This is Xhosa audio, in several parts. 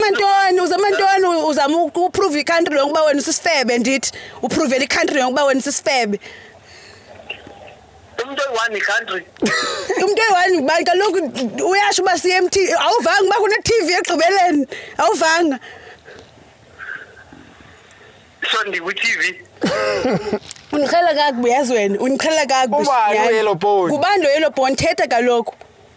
Mantoni uze mantoni uzama ukuprove icountry yonke uba wena usisifebe ndithi uprovele icountry yonke uba wena usisifebe umntu oyi-one icountry umntu oyi-one ngubani kaloku uyasho uba siye mt awuvanga uba kune-tv ekugqibeleni awuvanga so ndikwi-tv undiqhela kakubi yazi wena undiqhela kakubi Ubani oyellow bone? ngubani lo yellow bone thetha kaloku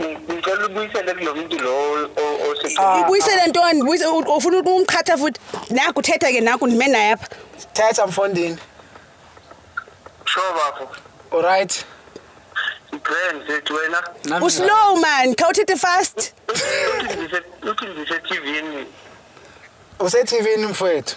ngicela ubuyisele kulo mntu lo ah. ibuyisele ntoni ufuna umqhatha futhi naku uthetha ke naku ndime naye apha thetha mfondini sure bafo olrayithi grand zethu wena uslow man khawuthethe fast uthi ndisetivini usetivini mfowethu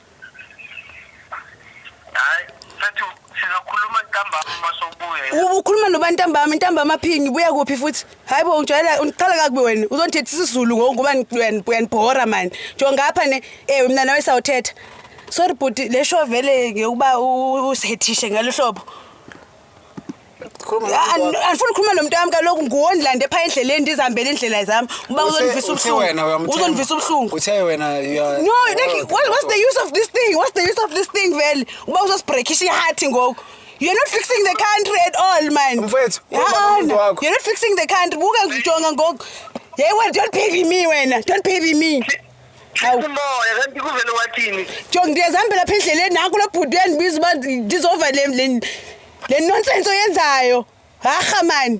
hayi sathi sizokhuluma ntambama uma sobuya Ubu- ukhuluma nobani ntambama intambama phingi buya kuphi futhi hayi bo ungijwayela undiqala kakubi wena uzondithetha isizulu ngoku ngoba ni- uyan- uyanibhora mani njo ngapha ne ewe mna nawe sawuthetha sorry bhuti le show vele ngeyokuba u- u- usihethishe ngalo hlobo andifuni ukhuluma nomntu wam kaloku nguwo ndilande phaa endleleni ndizihambele iindlela zam uba uzondivisa ubuhlunguuzondivisa ubuhlungu no like what's the use of this thing what's the use of this thing vele uba uzosibrekhisha ihathi ngoku You're not fixing the country at all, man. Mfethu, you're not fixing the country. Buka ngijonga ngoku. Hey, well, don't pity me wena. Don't pity me. umoya kanti kuvele wathini jo ndiyazihambela lapha endleleni naku lo bhuti uyandibiza uba ndizova le nonsense oyenzayo harha mani